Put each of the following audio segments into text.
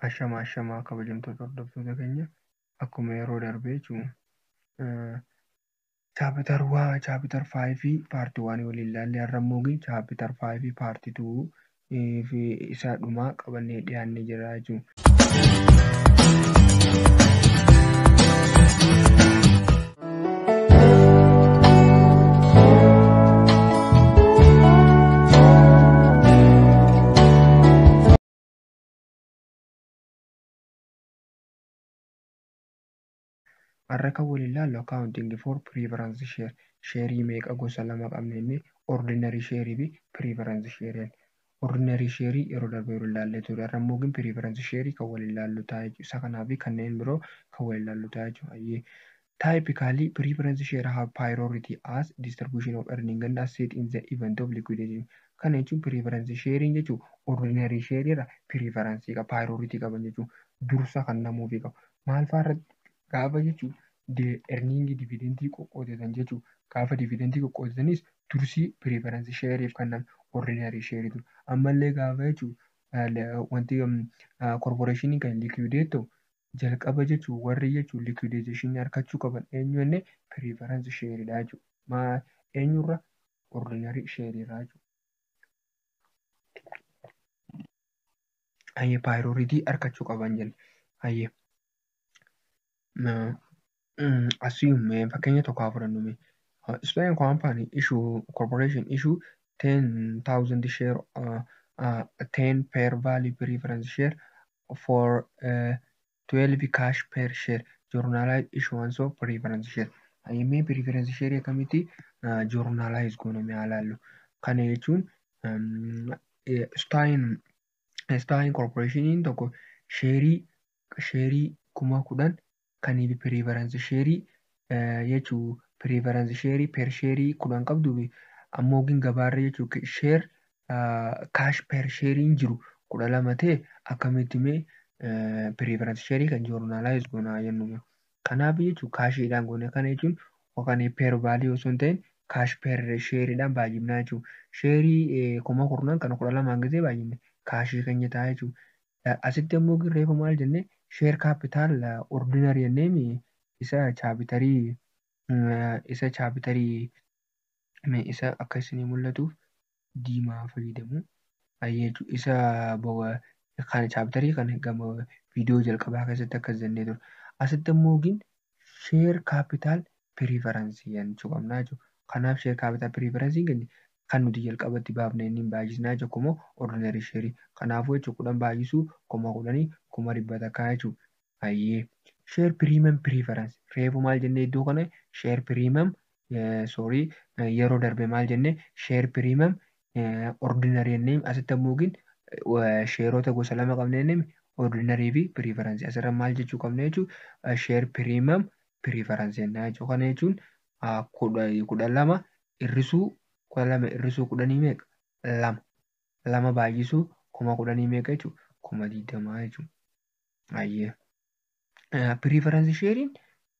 Ashama ashama kabajamtoota hordoftoota keenya akkuma yeroo darbee jechuun chaapitar waa chaapitar faayivii paartii waan waliin ilaalle har'a immoo chaapitar faayivii paartii tuu fi isaa dhumaa qabannee dhiyaannee jira jechuun. Har'a kan waliin ilaallu accounting for preference share. Sheerii meeqa gosa lama qabna inni ordinary share fi preference share. Ordinary share yeroo darbe wal ilaallee turre. Har'a immoo gin preference share kan wal ilaallu ta'a jechuudha. Isa kanaa fi kanneen biroo kan wal ilaallu ta'a jechuudha. Hayyee. Typically, preference share have priority as distribution of earning and asset in the event of liquidation. Kana jechuun preference sharing jechuun ordinary share irra preference qaba, priority qaban jechuun dursa kan namuufi qabu. Maal fa'aa irratti gaafa jechuun erniingii dividentii qoqqoodatan jechuu gaafa dividentii qoqqoodatanis dursii preference share'if kennama ordinary share dura ammallee gaafa jechuu wanti corporation kan liquidate ta'u jalqaba jechuu warri jechuu liquidation harkachuu qaban eenyu jenne preference share dha jechuu maa eenyurra ordinary share irraa jechuu ayyee priority harkachuu qaban jenne ayyee assume fakkeenya tokko haa fudhannu mee. Uh, Spain company issue corporation issue 10,000 share uh, uh, 10 per value preference share for uh, 12 cash per share journalized issuance of preference share ayyamee preference share akkamitti uh, journalize goona mee haa laallu kana jechuun um, eh, Spain Spain corporation tokko sheerii sheerii kuma kudhan kaniif preference sheerii jechu preference sheerii per sheerii kudhan qabduuf ammoo gin gabaarra jechu sheer kaash per sheeriin jiru kudha lama ta'e akkamitti mee preference sheerii kan joornaalaayis goonaa jennu kanaaf jechu kaashiidhaan goone kana jechuun yookaan per value osoo hin ta'in kaash per sheeriidhaan baay'ifnaa jechuun sheerii kuma kurnan kana kudha lamaan gisee baay'ifne kaashii keenya ta'a jechuun Asitti ammoo gin reefu maal jenne share capital ordinary jenneemi isa chaapitarii isa chaapitarii mee isa akka isinii mul'atuuf diimaa fayyadamu ayyeechu isa bawa kan chaapitarii kan gama viidiyoo jalqabaa keessatti akkas jennee ture asitti ammoo gin share capital preference jechuu qabna jechuudha. Kanaaf share capital preference keenya kan nuti jalqaba itti baafne inni baay'isnaa jechuudha kumoo ordinary share kanaafuu jechuudha kudhan baay'isuu kuma kudhanii kuma dhibba takkaa jechuudha. Hayyee share premium preference reefu maal jennee iddoo kana share premium sorry yeroo darbe maal jennee share premium ordinary and name asitti ammoo gin sheerota gosa lama qabna jennee mi ordinary fi preference asirra maal jechuu qabna jechuu share premium preference jennaa jechuu kana jechuun kudha lama irrisuu kudha lama irrisuu kudhanii meeqa lama lama baay'isuu kuma kudhanii meeqa jechuu kuma digdamaa jechuu ayyee preference sharein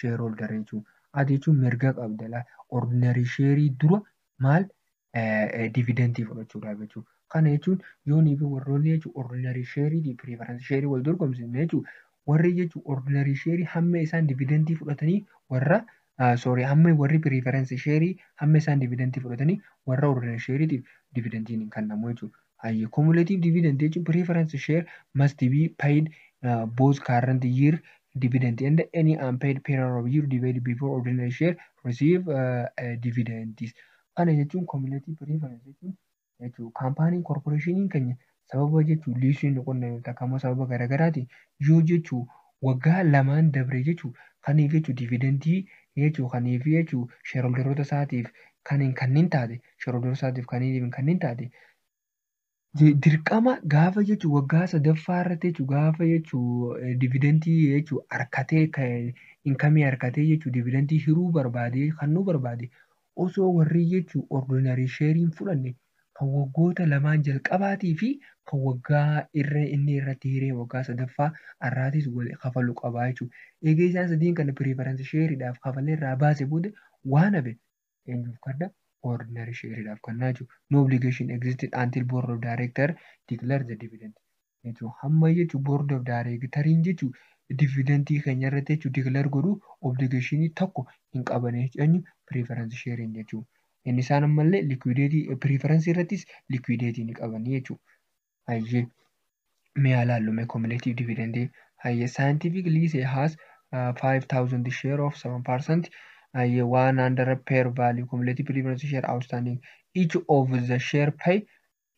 shareholder jechuun at jechuun mirga qabda la ordinary share dura maal dividentii fudhachuudhaaf jechuun kana jechuun yoonii fi warroonni jechuun ordinary share fi preference share wal dorgomsiifne jechuun warri jechuun ordinary share hamma isaan dividentii fudhatanii warra sorry hamma warri preference share hamma isaan dividentii fudhatanii warra ordinary share tiif dividentiin hin kennamu jechuudha. Hayyee cumulative dividend jechuun preference share must be paid uh, both current year dividend and any unpaid period of year divided before ordinary share receive uh, uh, dividends. Kana jechuun cumulative preference jechuun jechuun kaampaaniin korporeeshiniin keenya sababa jechuun liisiin nu qonname takka immoo sababa garaagaraatiin yoo jechuun waggaa lamaan dabree jechuun kaniif jechuun dividendii jechuun kaniif jechuun shareholderoota isaatiif kan hin kanniin taate shareholderoota isaatiif kan hin kanniin taate dirqama gaafa jechuun waggaa sadaffaa irratti jechuun gaafa jechuun dividendii jechuun harkatee inkamii harkatee jechuun dividendii hiruu barbaadee kannuu barbaade osoo warrii jechuu ordinary share hin fudhanne kan waggoota lamaan jalqabaatii fi kan waggaa irra inni irratti hiree waggaa sadaffaa arraatis wal kafalu qabaa jechuu eegee isaan sadiin kana preference share dhaaf kafalee irraa baase booda waan hafe eenyuuf kanna ordinary share dhaaf kannaa jechuu no obligation existed until board of director declare the dividend jechuun hamma jechuun board of directoriin jechuun dividentii keenya irratti jechuun declare godhu obligation tokko hin qaban jechuun preference sharing jechuun inni isaan ammallee liquidity preference irrattis liquidity ni qaban jechuun hayyee mee haa laallu mee cumulative dividend hayyee scientific lease has uh, 5000 share of 7% hayyee 100 per value cumulative preference share outstanding each of the share pay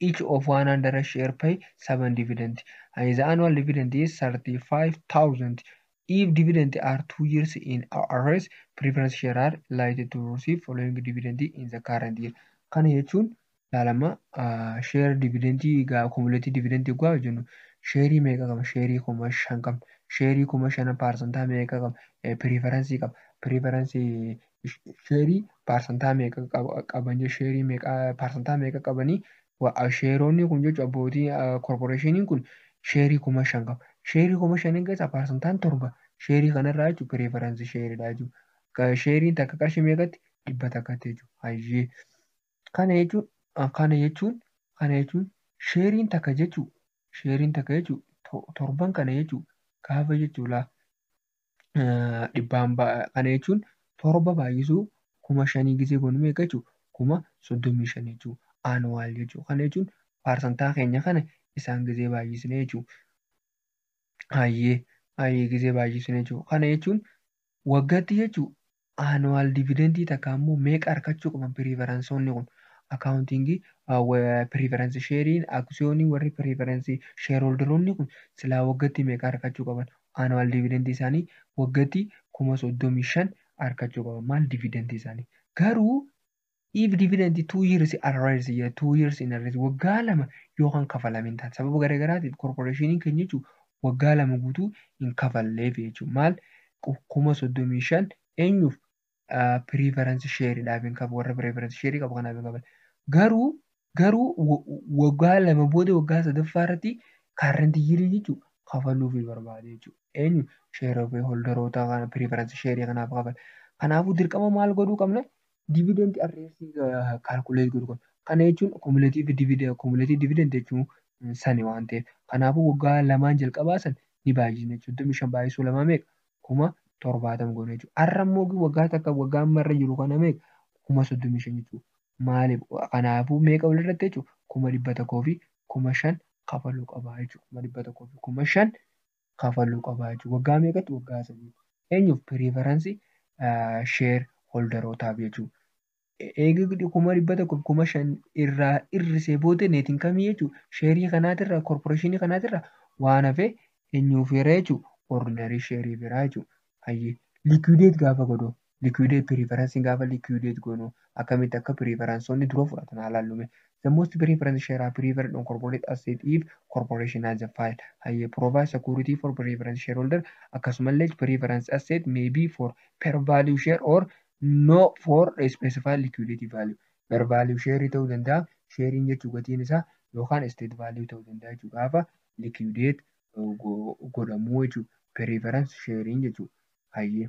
each of 100 share pay 7 dividend and the annual dividend is 35,000 if dividend are two years in arrears preference share are likely to receive following dividend in the current year kana jechuun laalama share dividend egaa accumulated dividend egaa jennu sheerii meeqa qaba sheerii kuma shan qabna sheerii kuma shana paarsantaa meeqa qaba preference qaba preference sheerii paarsantaa meeqa qaban sheerii meeqa paarsantaa meeqa qabanii sheeroonni kun jechuun abbootii korporeeshiniin kun sheerii kuma shan qaba. Sheerii kuma shaniin keessaa paarsantaan torba sheerii kanarraa jechuun pireefaransii sheeridha jechuudha. Sheeriin takka qarshii meeqatti dhibba takkatti jechuudha. Hayyee kana jechuun kana jechuun kana jechuun sheeriin takka jechuun sheeriin takka jechuun torban kana jechuun gaafa jechuudha. dhibbaan kana jechuun torba baay'isuu kuma shanii gisee goonu meeqa jechuu kuma soddomii shan jechuu aanuwaal jechuu kana jechuun paarsantaa keenya kana isaan gisee baay'isne jechuu hayyee hayyee gisee baay'isne jechuu kana jechuun waggatti jechuu Annual dividend takka ammoo meeqa arkachuu qaban preference'oonni kun accounting preference share'iin aksiyoonii warri preference shareholder'oonni kun silaa waggatti meeqa arkachuu qaban annual dividend isaanii waggatti 35,000 arkachuu qaban maal dividend isaanii garuu If dividend two years in arrears jedha two years in arrears waggaa lama yoo kan kafalamin taate sababa garaagaraatiif korporeeshiniin keenya jechuun waggaa lama guutuu hin kafalleef jechuun maal kuma soddomii shan eenyuuf piriifaransi sheeridhaaf hin kafalu warra piriifaransi sheerii qabu kanaaf hin kafalu garuu garuu waggaa lama booda waggaa sadaffaa irratti kaarrenti yirii jechuun kafaluuf barbaade jechuudha. Eenyu sheerota holdaroota kana piriifaransi sheerii kanaaf kafala. Kanaafuu dirqama maal godhuu qabna? dividend arreessi calculate godhu qabna. Kana jechuun cumulative dividend cumulative dividend jechuun sani waan ta'eef. Kanaafuu waggaa lamaan jalqabaa san ni baay'isna jechuudha. 25 baay'isuu lamaa meeqa? kuma torbaatama goona jechuudha. Har'a immoo waggaa takka waggaa amma irra jiru kana meeqa? kuma 35 jechuudha. Maaliif? Kanaafuu meeqa walirratti jechuudha? kuma dhibba tokkoo fi kuma shan kafaluu qaba jechuudha. Kuma dhibba tokkoo fi kuma shan kafaluu qaba jechuudha. Waggaa meeqatti? Waggaa sadiitti. Eenyuuf? Piriifaransii sheer holdarootaaf jechuudha. Eega kuma dhibba tokko kuma shan irraa hir'isee booda neetiin kamii jechuudha? Sheerii kanaatirraa korporeeshinii kanaatirraa waan hafe eenyuuf hira jechuudha? Ordinarii sheerii biraa jechuudha. Hayyee liikuideet gaafa godhu Liquidate preference gaafa liquidate goonu akkamitti akka preferenceonni dura fudhatan haa laallu mee. The most preference share are preferred on corporate asset if corporation has a file. Hayyee provide security for preference shareholder akkasumallee preference asset may be for per value share or no for a specified liquidity value. Per value share ta'uu danda'a sheeriin jechuu gatiin isaa yookaan state value ta'uu danda'a jechuu gaafa liquidate godhamuu jechuu preference sharing jechuu hayyee.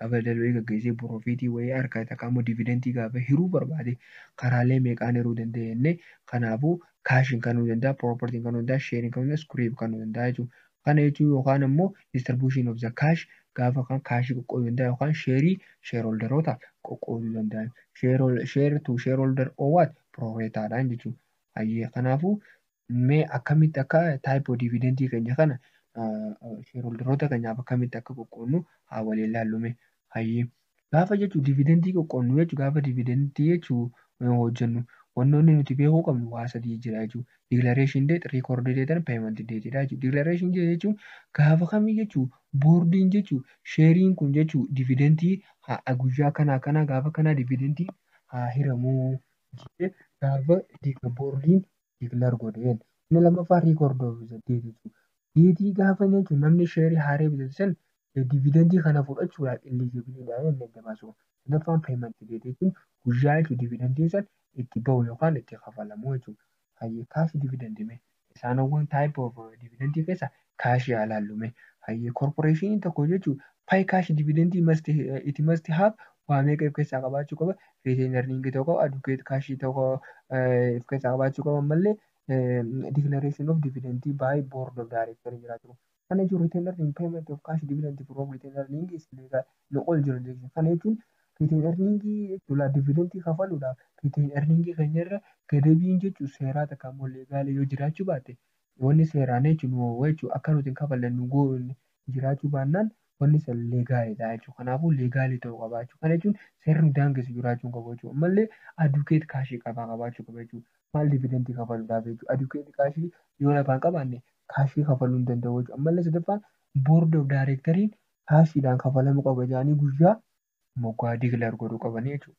kapital wayii gaggeessee profitii wayii argate takka ammoo dividendii gaafa hiruu barbaade karaalee meeqaan hiruu danda'a jennee kanaafuu kaashiin kanuu danda'a propertiin kanuu danda'a sheeriin kanuu danda'a skiriip kanuu danda'a jechuudha. Kana jechuun yookaan ammoo distribution of the cash gaafa kan kaashii qoqqooduu danda'a yookaan sheerii sheerholderootaaf qoqqooduu danda'a. Share to shareholder or what? Proreetaadhaan jechuudha. Hayyee kanaafuu Mee akkamitti akka type of dividend keenya kana shareholderoota keenyaaf akkamitti akka qoqqoodnu haa waliin ilaallu mee. Hayyee. Gaafa jechuun dividendii qoqqoodnu jechuun gaafa dividendii jechuun hojjennu wantoonni nuti beekuu qabnu waa sadii jira jechuudha. Declaration date, record date and payment date dha jechuudha. Declaration date jechuun gaafa kamii jechuun boordiin jechuun sheeriin kun jechuun dividendii guyyaa kana akkanaa gaafa kanaa dividendii haa hiramuu jedhee gaafa boordiin declare godhe jen inni lammaffaa record of the date jechuudha. Deetii gaafa inni jechuun namni sheerii haaree bitate san dividendii kana fudhachuudhaaf eligible dha inni adda baasu. Sadaffaan payment date jechuun guyyaa jechuun dividendiin san itti bahu yookaan itti kafalamu jechuudha. Hayyee cash dividend mee isaanowwan type of dividendii keessa kaashii haa laallu mee. Hayyee korporeeshiniin tokko hojjechuuf pay cash dividend must it must have waa meeqa if keessaa qabaachuu qaba retain earning tokko adukeet kaashii tokko if keessaa qabaachuu qaba ammallee declaration of dividend by board of director jiraachuu qaba. Kana jechuun retain earning payment of cash dividend from retain earning is legal in all jurisdiction. Kana jechuun retain earning jechuudha dividend kafaluudhaaf retain earning keenya irra gadabiin jechuun seeraa takka immoo leegaala yoo jiraachuu baate Wanni seeraan jechuun nu oowwa jechuudha. Akka nuti hin kafalle nu goodhu jiraachuu baannaan wanni san leegaaliidha jechuudha. Kanaafuu leegaalii ta'uu qaba jechuudha. Kana jechuun seerri nu daangessu jiraachuu hin qabu jechuudha. Ammallee adukeet kaashii qabaa qabaachuu qaba jechuudha. Maal dividentii kafaluudhaaf jechuudha. Adukeet kaashii yoo lafaa hin qabaanne kaashii kafaluu hin danda'u jechuudha. Ammallee sadaffaan boord of daayireektariin kaashiidhaan kafalamuu qaba jedhanii guyyaa moggaa digilar godhuu qabanii jechuudha.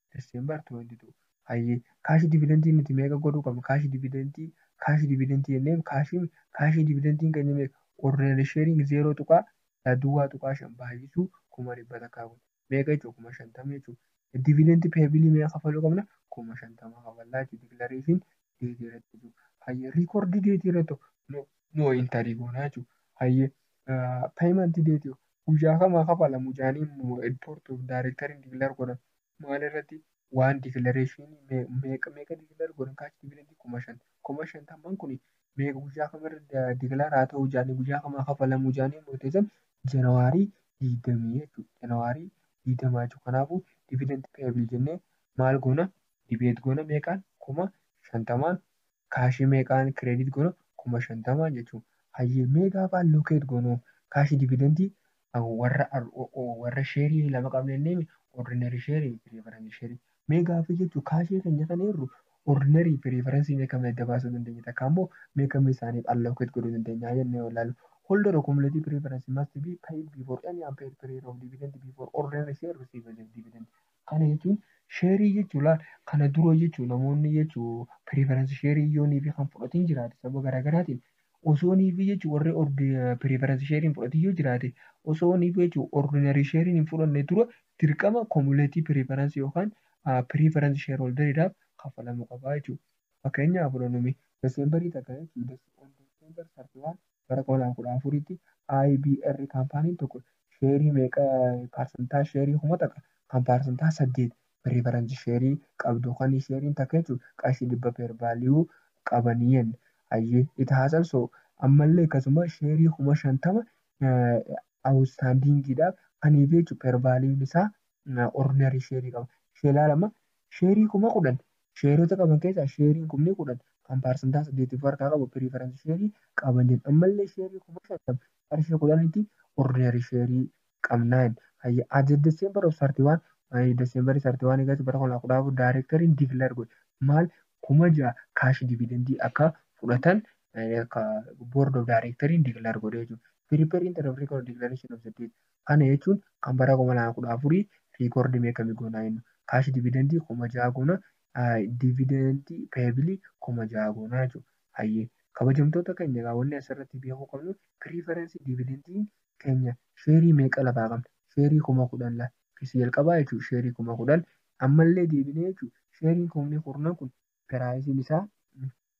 December 22. Hayyee kaashi dividentii nuti meeqa godhuu qabna? Kaashi dividentii kaashi dividentii jennee kaashi kaashi dividentiin keenya meeqa? Ordinary sharing 0 tuqaa yaa duwwaa tuqaa shan baay'isuu kuma dhibba takkaa kun meeqa jechuudha kuma shantama jechuudha. Dividend payabilii meeqa kafaluu qabna? Kuma shantama kafallaa jechuudha declaration date irratti jechuudha. Hayyee record date irratti no no entry goonaa jechuudha. Hayyee payment date guyyaa kam haa kafalamu jaanii mo edportuf directorin declare godhan maal irrati waan declaration meeqa meeqa declare godhan kaachi dividend kuma shan kuma shantamman kuni meeqa guyyaa kam irra declare haa ta'u jaanii guyyaa kam haa kafalamu jaanii murteessan janawaarii digdamii jechuudha janawaarii digdamaa jechuudha kanaafuu dividend payable jennee maal goona debate goona meeqaan kuma shantamaan Kaashii meeqaan credit goona? 50,000 jechuun. Hayyee mee gaafa allocate goonu kaashi dividendii warra warra share lama qabna jenneemi ordinary share fi preference share. Mee gaaffii jechuun kaashii keenya kan eerru ordinary fi preference mee kami adda baasuu dandeenya takka ammoo mee kami isaaniif allocate godhuu dandeenya jennee yoo ilaallu. Holder of cumulative preference must be paid before any unpaid period of dividend before ordinary share receives dividend. Kana jechuun sheerii jechuun laal kana dura jechuun namoonni jechuun preference sheerii yoo niifi kan fudhatiin jiraate sababa garaagaraatiin osoo niifi jechuun warri ordi preference sheeriin fudhatiin yoo jiraate osoo niifi jechuun ordinary sheeriin hin fudhanne dura dirqama cumulative preference yookaan ah, preference shareholder dhaaf kaffalamuu qabaa jechuudha. Fakkeenyaa fudhannumee December takka jechuun December 31 bara 2014tti IBR kaampaaniin tokko sheerii meeqa paarsantaa sheerii kuma taqa kan paarsantaa saddeet piriifaransi sheerii qabdu kan sheeriin takka jechuun qarshii dhibba peer vaaliyuu qabanii jenne ayyee it has also ammallee akkasuma sheerii kuma shantama awustaandiingiidhaaf kanii fi jechuun peer vaaliyuun isaa ordinarii sheerii qaba ishee ilaalama sheerii kuma kudhan Sheerota qaban keessaa sheeriin kumni 10 kan paarsantaa 8 of harkaa qabu piriifaransi sheerii qaban jedhan. Ammallee sheerii kuma 50 qarshii 10tti ordineerii sheerii qabna jedhan. Hayya as the December of 31 maayii December 31 eegatti bara 2014 daayireektariin dikilaar godhe maal kuma 6 kaashi dividendii akka fudhatan akka board of directoriin dikilaar godhe jechuudha. Prepare interim record declaration of the date Kana jechuun kan bara 2014 record mee kami goona jennu. Cash dividend 6000 goona, dividend payable 6000 goona jechuudha. Hayyee kabajamtoota keenya egaa wanni asirratti beekuu qabnu preference dividend keenya sheerii meeqa lafaa qabna? Sheerii 10,000 lafa. Isa jalqabaa jechuudha sheerii 10,000 ammallee deebinee jechuudha sheeriin kumni kurnan kun piraayisiin isaa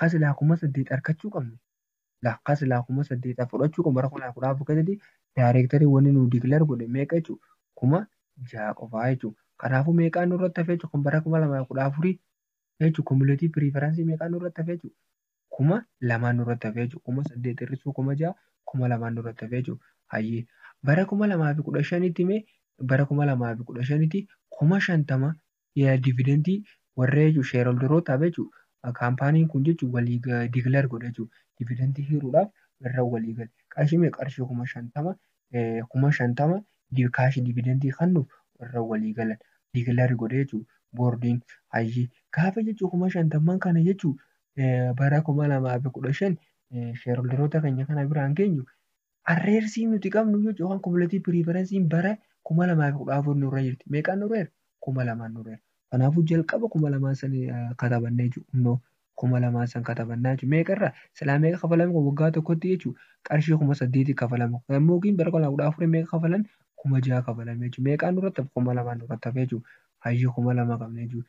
Ka silaa kuma saddeet arkachuu qabnu la ka silaa kuma saddeet a fudhachuu qabnu bara kuma kudha afur keessatti directory wanni nu declare godhe meeqa jechu kuma ja'a qofaa jechu kanaafu meeqaa nurratti hafe jechu kan bara kuma lamaa fi kudha afurii jechu cumulative preference meeqaa nurratti hafe jechu kuma lamaa nurratti hafe jechu kuma saddeet hir'isuu kuma ja'a kuma lamaa nurratti hafe jechu hayyee bara kuma lamaa fi kudha shanitti mee bara kuma lamaa fi kudha shanitti kuma shantama Yaa dividend warra jechuun shareholderootaaf jechuun kaampaaniin kun jechuun walii declare godha jechuun dividend hiruudhaaf irra walii gale. Qarshii meeqa qarshii kuma shantama kuma shantama kaashi dividend kannuuf irra walii galan declare godha jechuun boordiin hayyee gaafa jechuun kuma shantamman kana jechuun bara kuma lamaa fi kudha shan shareholderoota keenya kana biraan geenyu Arreersiin nuti qabnu jechuun yookaan kumulatii piriifaransiin bara kuma lamaa fi kudha afur nurra jirti. Meeqaan nurra jira? Kuma lamaan nurra jira. Kanaafuu jalqaba kuma lamaan san katabannee jechuudha. Kuma lamaan san katabannaa jechuudha. Meeqa irraa? Silaa meeqa kafalame kun waggaa tokkotti jechuudha. Qarshii kuma saddeetii kafalame. Yommuu yookiin bara kuma lamaa kudha afurii meeqa kafalan? Kuma jaha kafalame jechuudha. Meeqaan nurratti hafe? Kuma lamaan nurratti hafe jechuudha. Hayyee kuma lama qabna jechuudha.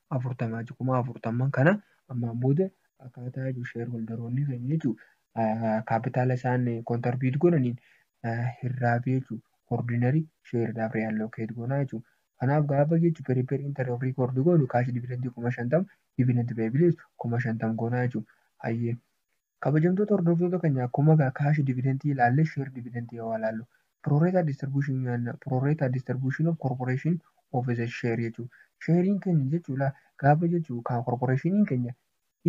afurtama jechuudha. Kuma afurtamman kana ammaan booda akkaataa jechuudha sheerholdaroonni keenya jechuudha kaapitaala isaan kontarbiit godhaniin hirraabee jechuudha ordinary sheeridhaaf reallocate goonaa jechuudha. Kanaaf gaafa jechuudha periper inter of record goonu kaash dividendii kuma shantama dividend payable kuma shantama goonaa jechuudha. Hayyee Kabajamtoota hordoftoota kenya akkuma egaa cash dividend ilaalle share dividend yoo ilaallu pro rata distribution nyaanna pro rata distribution of corporation of the share jechuu sheeriin keenya jechuu ilaa gaafa jechuu kan corporationiin keenya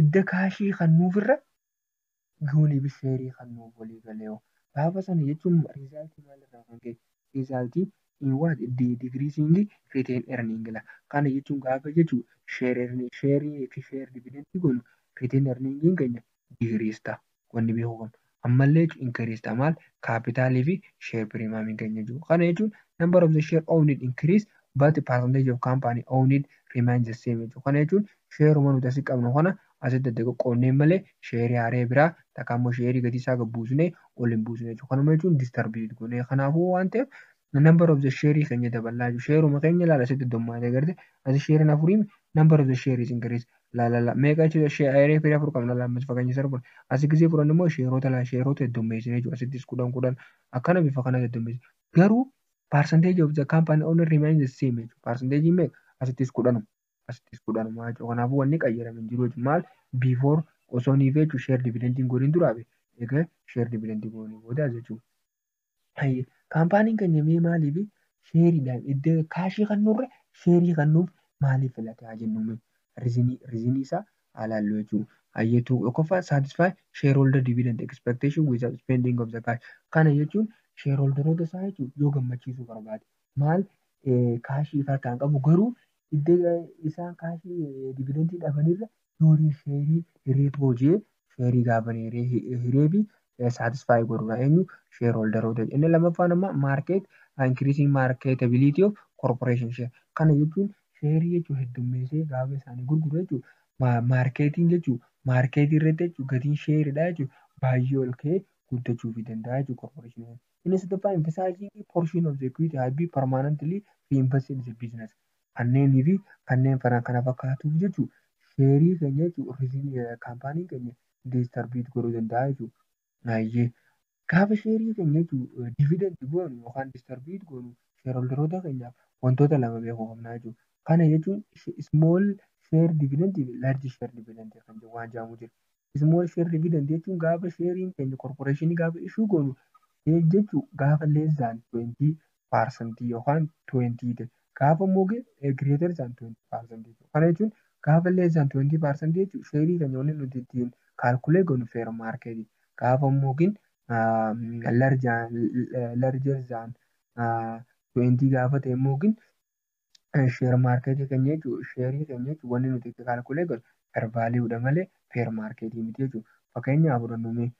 idda kaashii kan nuuf irra gooniif sheerii kan nuuf walii galeeyo gaafa sana jechuun riizaaltii maal irraa kan ka'e result in what the decreasing retained earning la kana jechuun gaafa jechu share earning share fi share dividend gonu retained earning keenya decrease ta wanni beeku qabnu ammallee jechu increase ta maal capital fi share premium keenya jechu kana jechuun number of the share owned increase but percentage of company owned remains the same jechu kana jechuun share uma nuti asi qabnu kana asitti adda qoqqoodneen malee sheerii haaree biraa takka ammoo sheerii gatii isaa gad buusnee ol hin buusne jechuudha. Kanuma jechuun disturbed goonee kanaafuu waan ta'eef number of the share keenya dabalaa jechuudha. Sheeruma keenya laala asitti dommaatee garte asi sheeriin afuriimi number of the share is increase laalala meeqa jechuudha sheeree firii afur qabna laammas fakkeenya sarara kudhan asi gisee kudhan immoo sheeroota laa sheeroota heddommeessine jechuudha asittis kudhan kudhan akkana bifa kana heddommeessine garuu percentage of the company owner remains the same jechuudha percentage meeqa asittis kudhanuma. asitti iskuudhaan maa jechuu kanaafuu wanni qayyarame hin jiru jechuudha. Maal before osoo nii feechu share dividend hin godhin duraa be egaa share dividend goone booda jechuudha. Hayyee kaampaaniin keenya mee maaliif sheeriidhaan iddoo kaashii kan nurra sheerii kan nuuf maaliif filate haa jennu mee rizinii rizinii isaa haa laallu jechuudha. Hayyee tokkoffaa satisfy shareholder dividend expectation without spending of the cash kana jechuun shareholderoota isaa jechuun yoo gammachiisuu barbaade maal kaashii ifa harkaan qabu garuu iddoo isaan kaashii dividendii dhabanirra nuurii sheerii hiree hoojee sheerii gaaban hiree hiree fi saatisfaayi godhudha eenyu sheer hooldaroota inni lammaffaan amma maarkeet inkiriisiin maarkeetabiliitii of korporeeshin sheer kana jechuun sheerii jechuun heddummeessee gaafa isaanii gurguru jechuun maarkeetiin jechuun maarkeetii irratti jechuun gatiin sheeridhaa jechuun baay'ee ol ka'ee guddachuufi danda'a jechuun korporeeshinii Inni sadaffaa emphasizing portion of the equity has been permanently reinvested in the business. Kanneenii fi kanneen fana kana fakkaatuuf jechuun sheerii keenya jechuun kaampaanii keenya diistarbiit godhuu danda'a jechuudha. Naayyee gaafa sheerii keenya jechuun dividend goonu yookaan diistarbiit goonu sheerholderoota keenyaaf wantoota lama beekuu qabna jechuudha. Kana jechuun small share dividend fi large share dividend kan waan jedhamu jira. Small share dividend jechuun gaafa sheeriin keenya korporeeshinii gaafa ishuu goonu jechuu gaafa less than 20 parsantii yookaan 20 ta'e gaafa immoo greater than 20 parsantii ta'e kana jechuun gaafa less than 20 parsantii jechuun sheerii keenya wanni nuti ittiin kaalkulee goonu fair market gaafa immoo larger than 20 gaafa ta'e immoo Share market keenya jechuun share keenya jechuun wanni nuti itti calculate godhu fair value dha malee fair market miti jechuudha. Fakkeenyaaf fudhannu mee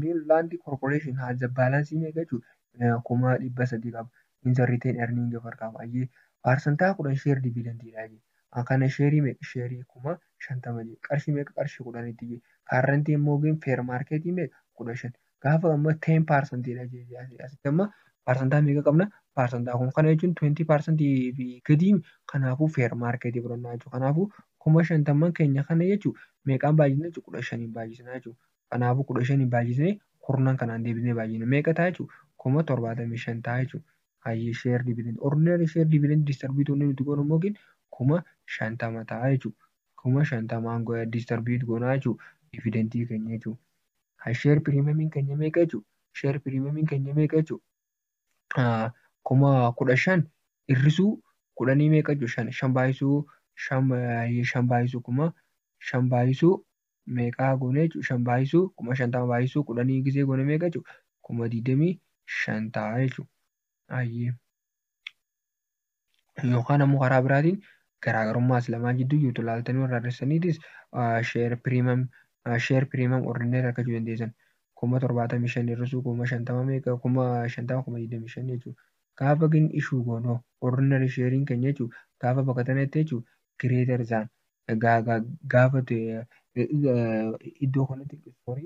Mill Land Corporation has a balance meeqa jechuudha kuma dhibba sadii qaba. In the return earning of harkaa baay'ee parsantaa kudhan share dividend dha jedhe. Kana sheerii meeqa sheerii kuma shantama jedhe. Qarshii meeqa qarshii kudhanitti jedhe. Current immoo fair market meeqa kudha shan. gaafa amma 10 parsantii dha jee asi- asitti amma parsantaa meeqa qabna parsantaa kun kana jechuun 20 parsantii fi gadii kanaafuu feer maarkeetii fudhannaa jechuudha kanaafuu kuma shantamman keenya kana jechuun meeqaan baay'isna jechuun kudha shaniin baay'isna jechuudha kanaafuu kudha shaniin baay'isnee kurnan kanaan deebinee baay'ina meeqa ta'a jechuudha kuma torbaatamii shan ta'a jechuudha hayyee sheer dividend ordinary sheer dividend distribution inni nuti goonu immoo gin kuma shantama ta'a jechuudha kuma shantamaan distarbiit goonaa jechuudha dividentii keenya jechuudha. Kan share premium keenya meeqa jechuun share premium keenya meeqa jechuun kuma kudha shan hir'isuu kudhanii meeqa jechuun shan shan baay'isuu shan baay'isuu kuma shan baay'isuu meeqaa goone jechuun shan baay'isuu kuma shantama baay'isuu kudhanii gisee goone meeqa jechuun kuma digdamii shan ta'a jechuudha. yookaan ammoo karaa biraatiin garaagarummaa as lamaan jidduu jirtu ilaaltanii warra hir'istaniitis sheer piriimam sheer piriimam ordineer argachuu dandeessan kuma torbaatamii shan hir'isuu kuma shantama meeqa kuma shantama kuma digdamii shan jechuudha. Gaafa gin ishuu goonu ordineer sheeriin keenya jechuudha gaafa bakka tanatti jechuudha gireetar zaan gaafa iddoo kanatti sorry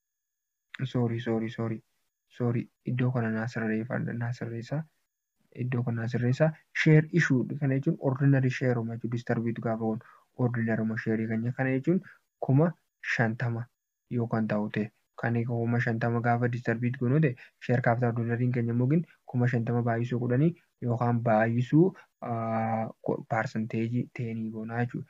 sorry sorry sorry sorry iddoo kana naa sirreeffadha naa sirreessa iddoo kana naa sirreessa share issue kana jechuun ordinary share uma jechuun disturbiitu gaafa kun ordinary uma share keenya kana jechuun kuma shantama yoo kan ta'u ta'e kan kuma shantama gaafa disturbiitu goonu ta'e share capital ordinariin keenya mogin kuma shantama baay'isuu kudhanii yookaan baay'isuu percentage teenii goonaa jechuudha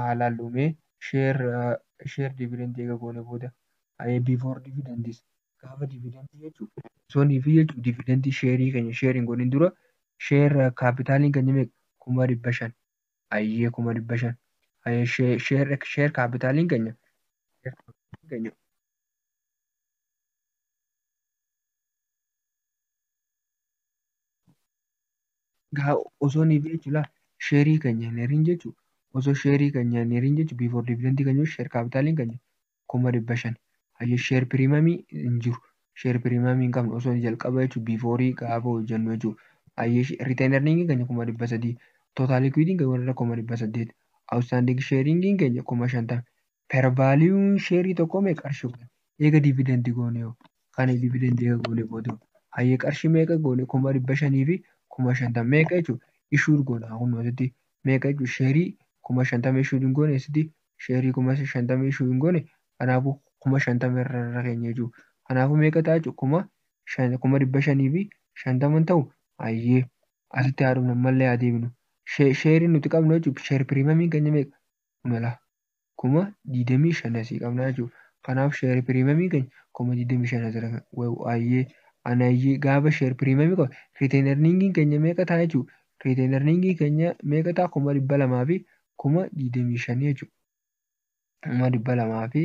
haa laallu mee share share dividend eega goone booda ayee before dividends gaafa dividend jechu sonii fi jechu dividend share keenya share hin godhin dura share capital keenya mee kuma dhibba shan ayee kuma dhibba shan ayee share share share capital keenya share capital keenya gaa osoo ni jechu la sheerii keenya hin herin jechu osoo sheerii keenya hin herin jechu before dividend keenya sheer kaapitaaliin keenya kuma dhibba shan hayyo sheer piriimamii hin jiru sheer piriimamii hin qabnu osoo jalqaba jechu before gaafa hojjennu jechu hayyo retain earning keenya kuma dhibba sadii total equity keenya warra kuma dhibba saddeet outstanding sharing keenya kuma shantama per value share tokko me qarshi kun eega dividend goone yoo kan dividend eega goone booda hayyee qarshi meeqa goone kuma dhibba shanii fi kuma shantam meeqa jechuun issued goona kun asitti meeqa jechuun sheerii kuma shantama issued hin goone asitti sheerii kuma shantama issued hin goone kanaafuu kuma shantama irra irra keenya jechuun kanaafuu meeqa ta'a jechuun kuma shan kuma dhibba shanii fi shantaman ta'u hayyee asitti haa dhumna mallee haa deebinu sheerii nuti qabnu jechuun sheer piriimamiin keenya meeqa kuma lama kuma digdamii shan asii qabnaa jechuudha. Kanaaf sheer piriimamii keenya kuma digdamii shan asirra kan wayu ayyee ana ayyee gaafa sheer piriimamii qabu riiteen erniingiin keenya meeqa ta'a jechuudha. Riiteen erniingii keenya meeqa ta'a kuma dhibba lamaa fi kuma digdamii shanii jechuudha. Kuma dhibba lamaa fi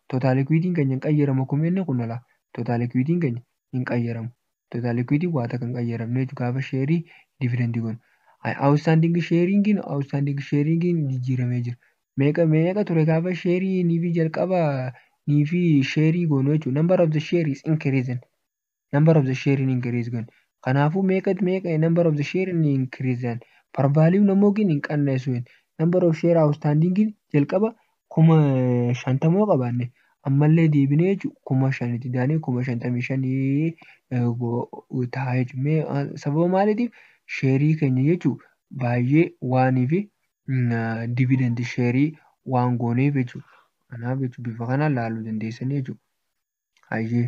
Tootaaliikwiidiin keenya hin qayyaramu akkuma jenne kun ala tootaaliikwiidiin keenya hin qayyaramu. Tootaaliikwiidiin waa takka hin qayyaramne jechuudha gaafa sheerii dividendii goonu. Awustaandiingi sheeriingiin awustaandiingi sheeriingiin jijjiiramee jira. Meeqa meeqa ture gaafa sheerii niifi jalqaba niifi sheerii goonu jechuudha. Number of the share is increasing. number of the share in increase goone kanaafuu meeqa meeqa number of the share in increase dhaan par value namoo gin hin qanneessu hin number of share outstanding gin jalqaba kuma shantamoo qabaanne ammallee deebinee jechuun kuma shanitti daanee kuma shantamii shanii ta'a jechuun mee sababa maaliitiif sheerii keenya jechuun baay'ee waanii fi dividend sheerii waan gooneef jechuudha. Kanaaf jechuudha bifa kanaan laaluu dandeessanii jechuudha. Hayyee.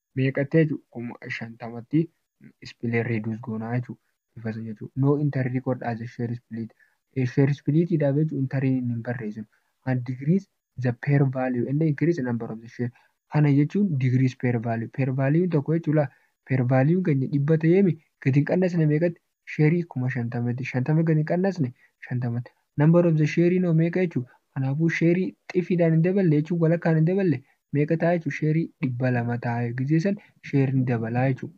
meeqatti jechu kuma shantamatti split reduce goonaa jechu bifa san jechu no enter record as a share split share split dhaaf jechu interin hin hin barreesinu and decrease the pair value and increase number of the share kana jechuun decrease pair value pair value tokko jechu laa pair value keenya dhibba ta'eemi gadi hin qannasne meeqatti share kuma shantamatti shantama gadi qannasne shantamatti number of the share noo meeqa jechuu kanaafuu share xifiidhaan hin daballe jechuun walakkaan hin daballe meeqa ta'a jechuu share dhibba lama ta'a gizee san share ni dabalaa jechuu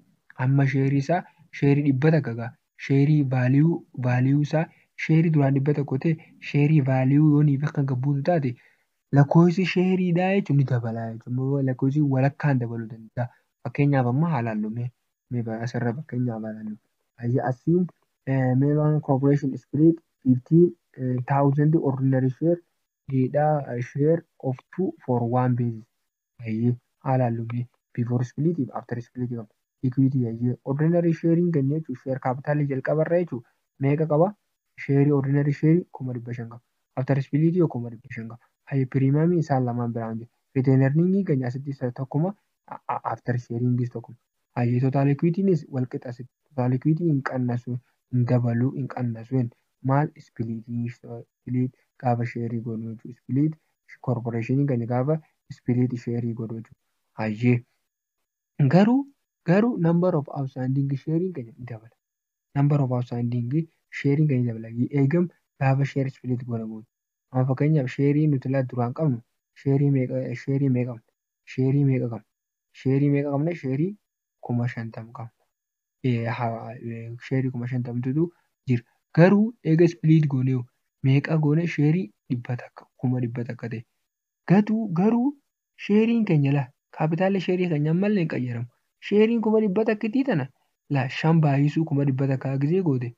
amma share isaa share dhibba takka gaa share value value isaa share duraan dhibba tokko ta'e share value yoo niif akka gabbuutu taate lakkoofsi sheeriidhaa jechuun ni dabalaa jechuun lakkoofsi walakkaan dabaluu danda'a. Fakkeenyaaf amma haalaan lumee Mee baa asirra fakkeenyaa ilaalu. Ayya asiin Melon Corporation Split 15,000 ordinary share data share of 2 for 1 basis. Ayye haala hallumee before split fi after split qaba. Equity ayye ordinary sharein keenya jechuun share capital jalqaba irra jechuun meeqa qaba? Share ordinary share 500,000 qaba. After split yoo 500,000 qaba. Ayye premium isaan lamaan biraan jiru. Return earning keenya asitti isa tokkuma after sharing is tokko hayyee total equity nis wal qixa sitti total equity hin qannasu hin dabalu hin qannasu hin maal split split gaafa share godhu jechuudha split corporation keenya gaafa split share godhu jechuudha hayyee garuu garuu number of outstanding sharing keenya ni dabala number of outstanding sharing keenya ni dabala eegam gaafa share split godhamu amma fakkeenyaaf sheerii nuti laa duraan qabnu sheerii meeqa sheerii meeqa qabna sheerii meeqa qabna sheerii meeqa qabna sheerii kuma shantam qabna Eh, ha- eh, sheerii kuma shantamtutu jira garuu eega split goonee meeqa goone sheerii dhibba takka kuma dhibba takka ta'e gatuu garuu sheeriin keenya laa kaapitaalli sheerii keenya ammallee hin qayyaramu sheeriin kuma dhibba takkitii tana laa shan baay'isuu kuma dhibba takkaa gizee goote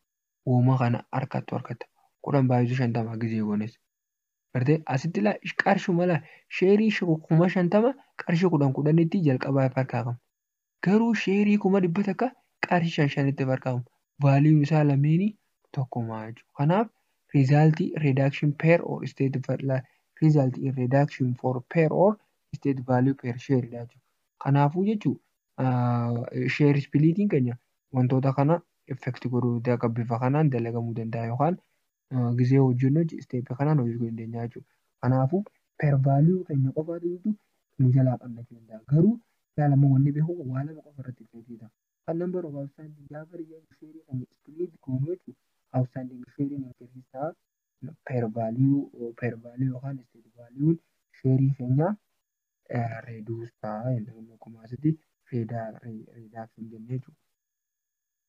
wooma kana harkattu harkatta kudhan baay'isuu shantamaa gizee goones Gartee asitti laa qarshuma laa sheerii kuma shantama qarshii kudhan kudhanitti jalqabaa if harkaa qabna. Garuu sheerii kuma dhibba takka qarshii shan shanitti if harkaa qabna. Vaaliin isaa lameenii tokkuma jechuudha. Kanaaf result reduction per or state value result in reduction for per or state value per share dha jechuudha. Kanaafuu jechuudha share splitting keenya wantoota kana effect godhuu akka bifa kanaan dalagamuu danda'a yookaan gizee hojii hojii isteeppi kanaan hojii gochuu dandeenya jechuudha. Kanaafuu per value keenya qofaatu jirtu nu jalaa qannachuu danda'a. Garuu ilaala immoo wanni beeku waa lama qofa irratti hojjeta. Kan number of outstanding gaafa riyyaan sheerii kan split goonu jechuun outstanding sheeriin increase ta'a. Per value per value yookaan state value sheerii keenya reduce ta'a. Inni kun akkuma asitti reduction jennee jechuudha.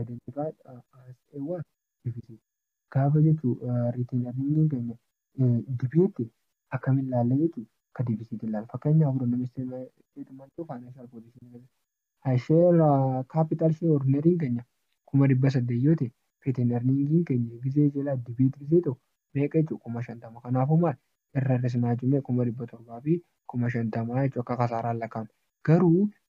identified as a what deficit gaafa jechu retail earning keenya debate akkamiin laalla jechu ka deficit laalla fakkeenyaaf fudhanname statement of financial position keessa share capital share ordinary keenya kuma dhibba saddeet yoo ta'e retail earning keenya gizee jala debate gizee ta'u meeqa jechu kuma shantama kanaafuu maal irra hir'isnaa jechuu kuma dhibba torbaa fi kuma shantamaa jechuu akka kasaaraan lakkaa'ama garuu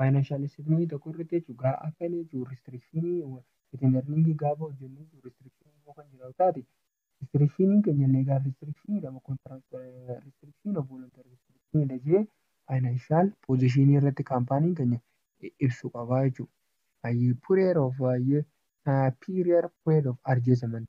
Financial statement tokko irratti jechuun gaa akka inni jechuun restriction ittiin earning gaafa hojjennu jechuun restriction yoo kan jiraatu taate restriction keenya legal restriction jedhama contract restriction of voluntary restriction jedha jee financial position irratti kaampaaniin keenya ibsu qabaa jechuudha. Ayyee period of ayyee period period of adjustment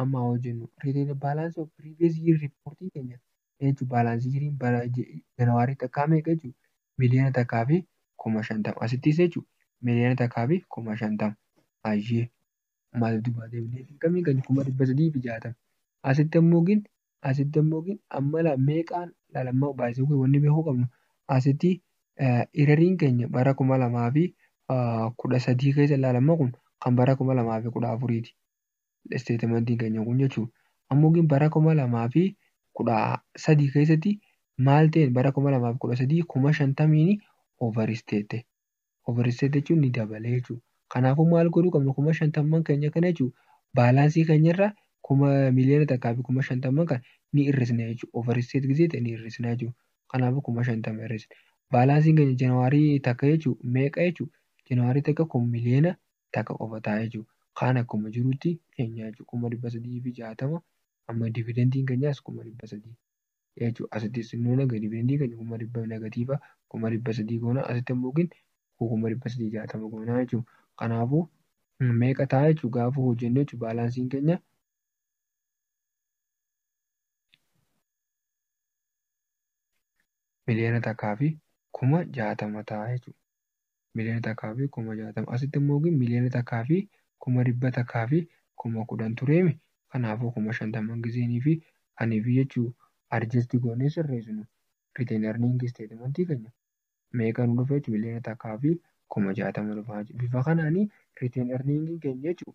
Amma haa hojjennu. Retail balance of previous year report keenya jechuun balance jiriin bara January takkaa meeqa jechuudha? Miliyoona takkaa fi kuma shantama. Asittis jechuudha miliyoona takkaa fi kuma shantama. Ayyee. Maal dubbaa deebinee dirqamii kan kuma dhibba sadii fi jaatama. Asitti ammoo gin asitti ammoo gin amma laa meeqaan laala amma baay'isuu kun wanni beekuu qabnu asitti irariin keenya bara kuma lamaa fi kudha sadii keessa laala ammoo kun kan bara kuma lamaa fi kudha afuriiti. Isteetimantiin keenya kun jechuudha. Ammoo gin bara 2013 keessatti maal ta'een bara 2013 kuma 50n overstate ta'e. Overstate jechuun ni dabalee jechuudha. Kanaafuu maal godhuu qabna kuma 50n keenya kana jechuudha baalaansii keenyarraa kuma miliyoona takkaa fi kuma 50n kana ni hir'isna jechuudha. Overstate gizee ta'e ni hir'isna jechuudha. Kanaafuu kuma 50 hir'isna. Baalaansiin keenya January takka jechuudha meeqa jechuudha? January takka kun miliyoona takka qofa ta'a jechu. Kaan akkuma jirutti keenya jechu. 360,000 amma dividendin kenyaas 300,000 jechu. Asitti xinnoo naga dividendin keenya 100,000 negatiiva 300,000 goona asitti ammoo gin 360,000 goona jechu. Kanaafu meeqa ta'a jechu gaafa hojjennu jechu baalaansiin keenya miliyoona takkaa fi kuma jaatama ta'a jechuudha. miliyoona takkaa fi kuma jaatama. Asitti immoo gin miliyoona takkaa fi kuma dhibba takkaa fi kuma kudhan tureemi. Kanaafuu kuma shantaman gizeenii fi anii fi jechuu adjust goonee sirreessinu retain earning statement keenya. Meeqa nu dhufa jechuu miliyoona takkaa fi kuma jaatama dhufa jechuu. Bifa kanaani retain earning keenya jechuu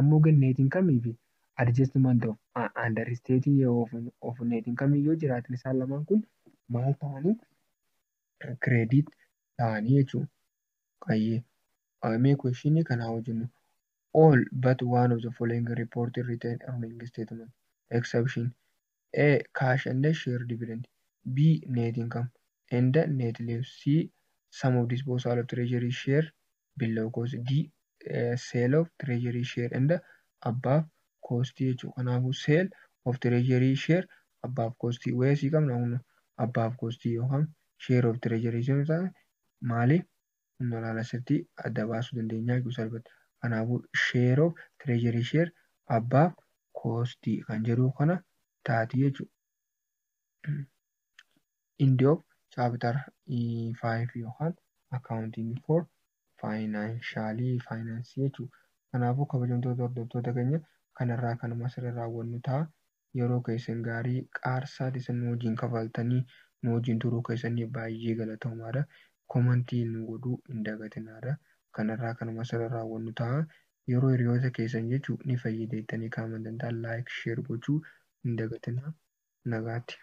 Ammo ganneetiin kamiifi adjustment of a understating a of of neetiin kamiin yoo jiraatan isaan lamaan kun maal ta'anii credit ta'anii jechuu qayyee mee question kanaa hojjennu all but one of the following reported written earning statement exception A. Cash and share dividend B. Net income and net leaves C. Sum of disposal of treasury share below cost D. Sale of treasury share and above cost jechuudha. Kanaafuu sale of treasury share above cost wayasii qabna kunoo above cost yookaan share of treasury share taate maali Humna olaanaa sirriitti adda baasuu dandeenya jechuudha salphatti. Kanaafuu share of treasury share above cost kan jedhu kana taati jechuudha. End of chapter 5 yookaan accounting for financial finance jechuudha. Kanaafuu kabajamtoota hordoftoota keenya kanarraa kanuma asirra raawwannu ta'a. yeroo keessan gaarii qaar saa teessan nu wajjin kafaaltanii nu wajjin turuu keessaniif baay'ee galatoomaadha komantii nu godhuu hin dagatinaadha kan irraa kanuma sirra raawwannu ta'a yeroo hiriyoota keessan jechuu ni fayyida jettanii kan amantan ta'a like share gochuu hin dagatinaa nagaatti.